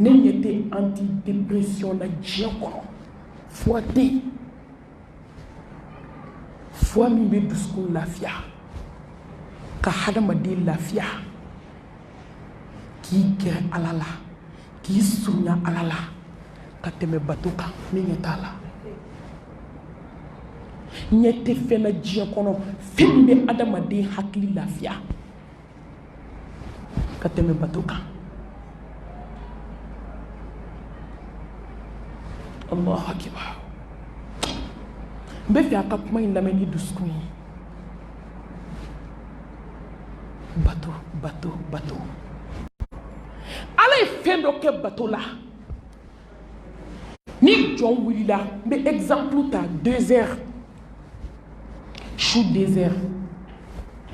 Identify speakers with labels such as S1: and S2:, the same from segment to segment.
S1: ne ɲɛ tɛ anti dépression na diɲɛ kɔnɔ fura tɛ yen fura min bɛ dusukun lafiya ka hadamaden lafiya k'i gɛrɛ ala la k'i surunya ala la ka tɛmɛ bato kan ne ɲɛ t'a la ɲɛ tɛ fɛn na diɲɛ kɔnɔ fɛn min bɛ hadamaden hakili lafiya ka tɛmɛ bato kan allahu akibar n bɛ fɛ a ka kuma in lamɛn ni dusukun ye bato bato bato ala ye fɛn dɔ kɛ bato la ni jɔn wulila n bɛ exemple ta deux heures su deux heures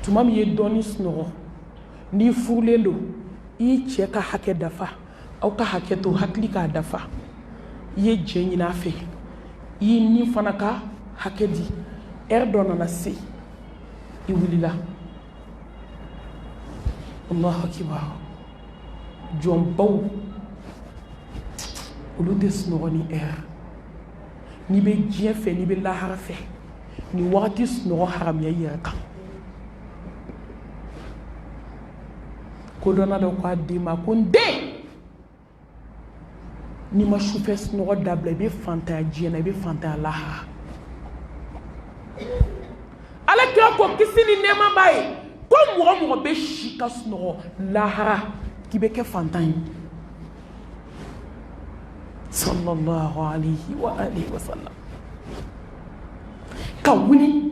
S1: tuma min ye dɔɔni sunɔgɔ n'i furulen don i ye cɛ ka hakɛ dafa aw ka hakɛ to hakili k'a dafa i ye jɛ ɲini a fɛ i ye ni fana ka hakɛ di heure dɔ nana se i wulila allahu akibar jɔnbaw olu tɛ sunɔgɔ nin ɛri n'i bɛ diɲɛ fɛ n'i bɛ lahara fɛ nin wagati sunɔgɔ haramuya i yɛrɛ kan kodɔnna dɔ ko a den ma ko n den n'i ma sufɛ sunɔgɔ dabila i bɛ fantanya diɲɛ na i bɛ fantanya lahara ala kira ko kisi ni nɛɛma b'a ye ko mɔgɔ mɔgɔ bɛ si ka sunɔgɔ lahara k'i bɛ kɛ fantan ye sallallahu alayhi wa alihi wa sallam ka wuli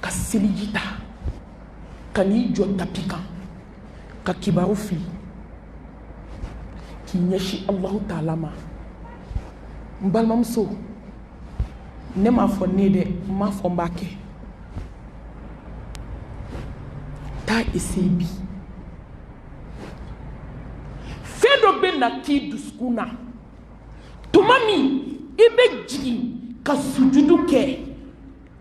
S1: ka seliji ta ka n'i jɔ tapi kan ka kibaru fili k'i ɲɛsin alahu taala ma n balimamuso ne m'a fɔ ne dɛ n m'a fɔ n b'a kɛ taa eseye bi fɛn dɔ bɛ na k'i dusukun na tuma min i bɛ jigin ka sujudu kɛ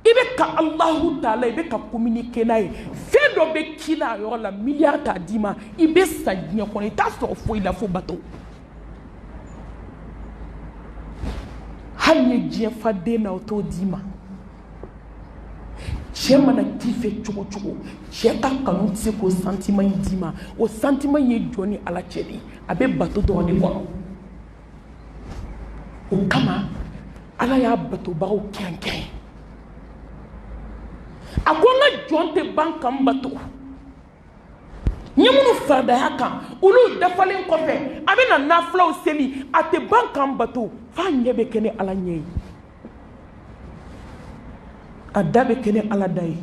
S1: i bɛ ka alahu taala i bɛ ka communiquer n'a ye fɛn dɔ bɛ k'i la a yɔrɔ la miliyari t'a d'i ma i bɛ sa diɲɛ kɔnɔ i t'a sɔrɔ foyi la fo bato hali n'i ye diɲɛ fa den na o t'o d'i ma cɛ mana k'i fɛ cogo cogo cɛ ka kanu tɛ se k'o santiman in d'i ma o santiman in ye jɔn ni ala cɛ de ye a bɛ bato dɔrɔn de kɔnɔ o kama ala y'a batobagaw kɛrɛnkɛrɛn a ko n ka jɔn tɛ ban ka n bato n ye minnu faridaya kan olu dafalen kɔfɛ a bɛna nafilaw seli a tɛ ban ka n bato f'a ɲɛ bɛ kɛ ni ala ɲɛ ye a da bɛ kɛ ni ala da ye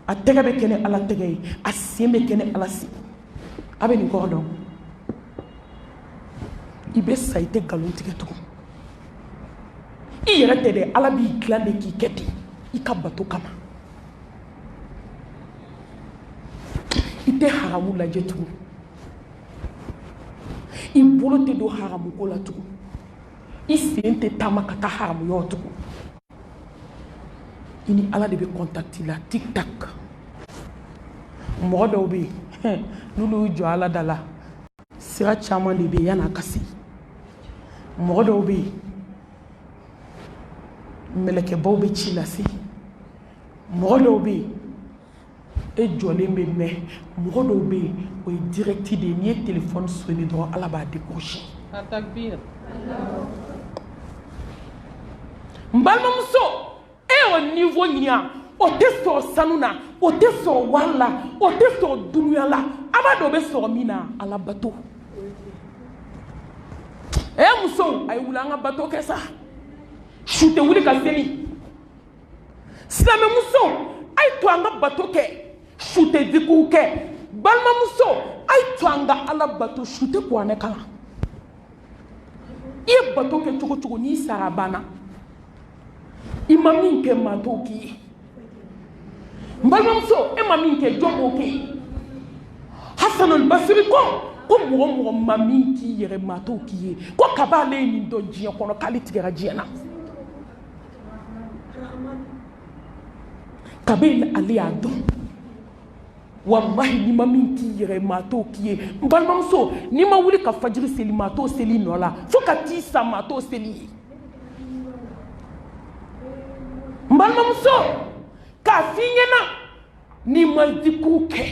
S1: a tɛgɛ bɛ kɛ ni ala tɛgɛ ye a sen bɛ kɛ ni ala sen a bɛ nin kɔrɔ dɔn i bɛ sa i tɛ nkalon tigɛ tugun i yɛrɛ tɛ dɛ ala b'i dilan de k'i kɛ ten i ka bato kama i tɛ haramu lajɛ tugun i bolo tɛ don haramuko la tugun i sen tɛ taama ka taa haramu yɔrɔ tugun i ni ala de bɛ kɔntakiti la tik tak mɔgɔ dɔw bɛ yen n'olu y'u jɔ ala da la sira caman de bɛ yen yan'a ka se mɔgɔ dɔw bɛ yen mɛlɛkɛbaw bɛ ci lase mɔgɔ dɔw bɛ yen e jɔlen bɛ mɛn mɔgɔ dɔw bɛ yen o ye dirɛti de ye n'i ye telefɔni sone dɔrɔn ala b'a dekorose n balimamuso e y'o niwo ɲiya o tɛ sɔrɔ sanu na o tɛ sɔrɔ wari la o tɛ sɔrɔ dunuya la a b'a dɔn o bɛ sɔrɔ min na ala bato e muso a ye wuli an ka bato kɛ sa su tɛ wuli ka seli silamɛmuso a ye to an ka bato kɛ su tɛ zikuru kɛ balimamuso a ye to an ka ala bato su tɛ kuranɛ kalan i ye bato kɛ cogo cogo n'i sara a banna i ma min kɛ maa t'o k'i ye n balimamuso e ma min kɛ jɔn b'o k'e ye hasanul basiri ko ko mɔgɔ mɔgɔ ma min k'i yɛrɛ maa t'o k'i ye ko kaba ale ye nin dɔn diɲɛ kɔnɔ k'ale tigɛra diɲɛ na kabini ale y'a dɔn walahi n'i ma min k'i yɛrɛ maa t'o k'i ye n balimamuso n'i ma wuli ka fajiri seli maa t'o seli i nɔ la fo ka t'i sa maa t'o seli i ye n balimamuso k'a f'i ɲɛna n'i ma zikuru kɛ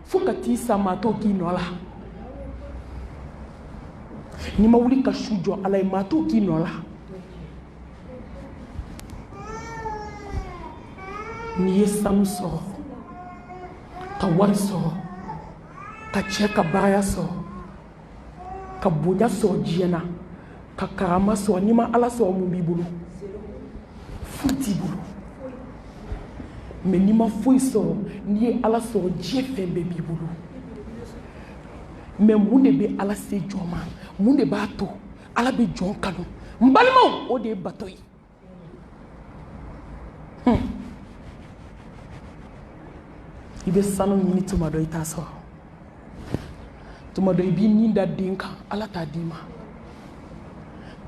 S1: fo ka t'i sa maa t'o k'i nɔ la n'i ma wuli ka su jɔ ala ye maa t'o k'i nɔ la n'i ye sanu sɔrɔ ka wari sɔrɔ ka cɛ ka baraya sɔrɔ ka bonya sɔrɔ diɲɛ na ka karama sɔrɔ n'i ma ala sɔrɔ mun b'i bolo foyi t'i bolo mais n'i ma foyi sɔrɔ n'i ye ala sɔrɔ diɲɛ fɛn bɛɛ b'i bolo mais mun de bɛ ala se jɔn ma mun de b'a to ala bɛ jɔn kanu n balimaw o de ye bato ye i bɛ sanu ɲini tuma dɔ i t'a sɔrɔ tuma dɔ i b'i ni da den kan ala t'a d'i ma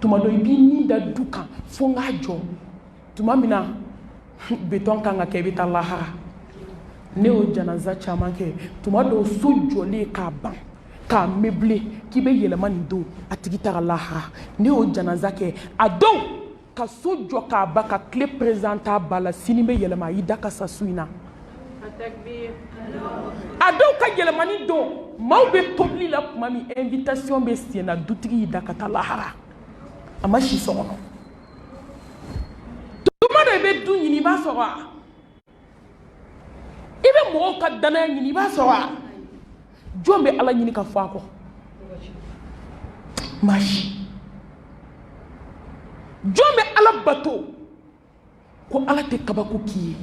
S1: tuma dɔ i b'i ni da du kan fo n k'a jɔ tuma min na betɔn kan ka kɛ i bɛ taa lahara ne y'o janaza caman kɛ tuma dɔw so jɔlen k'a ban k'a meublé k'i bɛ yɛlɛma nin don a tigi taga lahara ne y'o janaza kɛ a dɔw ka so jɔ k'a ban ka clé présenté a ba la sini bɛ yɛlɛma a y'i da ka sa su in na a dɔw ka yɛlɛmani don maaw bɛ tobili la tuma min invitation bɛ sen na dutigi y'i da ka taa lahara a ma si so kɔnɔ tuma dɔ i bɛ du ɲini i b'a sɔrɔ a i bɛ mɔgɔw ka danaya ɲini i b'a sɔrɔ wa jɔn bɛ ala ɲini ka fɔ a kɔ maa si jɔn bɛ ala bato ko ala tɛ kabako k'i ye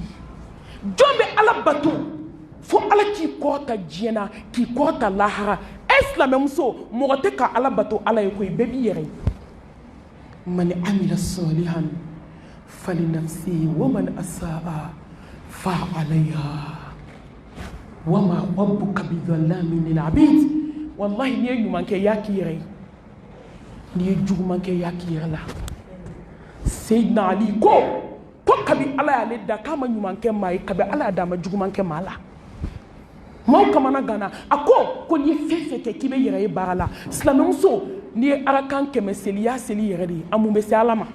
S1: jɔn bɛ ala bato fo ala k'i kɔrɔta diɲɛ na k'i kɔrɔta lahara e silamɛmuso mɔgɔ tɛ ka ala bato ala ye koyi bɛɛ b'i yɛrɛ ye man amila salihan falinafsihi wa man asaa fa alayha wa ma rabbuka bidhallamin lil abid wallahi n'i ye ɲuman kɛ y'a k'i yɛrɛ ye n'i ye juguman kɛ y'a k'i yɛrɛ la seydina ali ko ko kabi ala y'ale da k'a ma ɲuman kɛ maa ye kabi ala y'a da a ma juguman kɛ maa la maaw kamanaganna a ko ko n'i ye fɛn fɛn kɛ k'i b'i yɛrɛ ye baara la silamɛmuso n'i ye arakan kɛmɛ seli i y'a seli i yɛrɛ de ye a mun bɛ se ala ma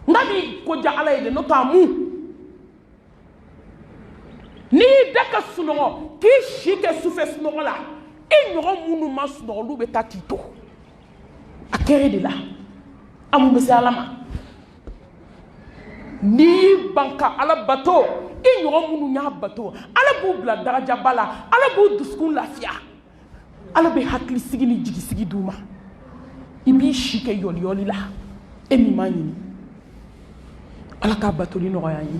S1: nka a b'i ko diya ala ye de n'o tɛ a mun n'i y'i da ka sunɔgɔ k'i si kɛ sufɛ sunɔgɔ la i ɲɔgɔn minnu ma sunɔgɔ olu bɛ taa k'i to a k'i yɛrɛ de la a mun bɛ se ala ma n'i y'i ban ka ala bato i ɲɔgɔn minnu y'a bato ala b'u bila darajaba la ala b'u dusukun lafiya ala bɛ hakilisigi ni jigisigi d'u ma i b'i si kɛ yɔliyɔli la e min m'a ɲini ala k'a batoli nɔgɔya an ye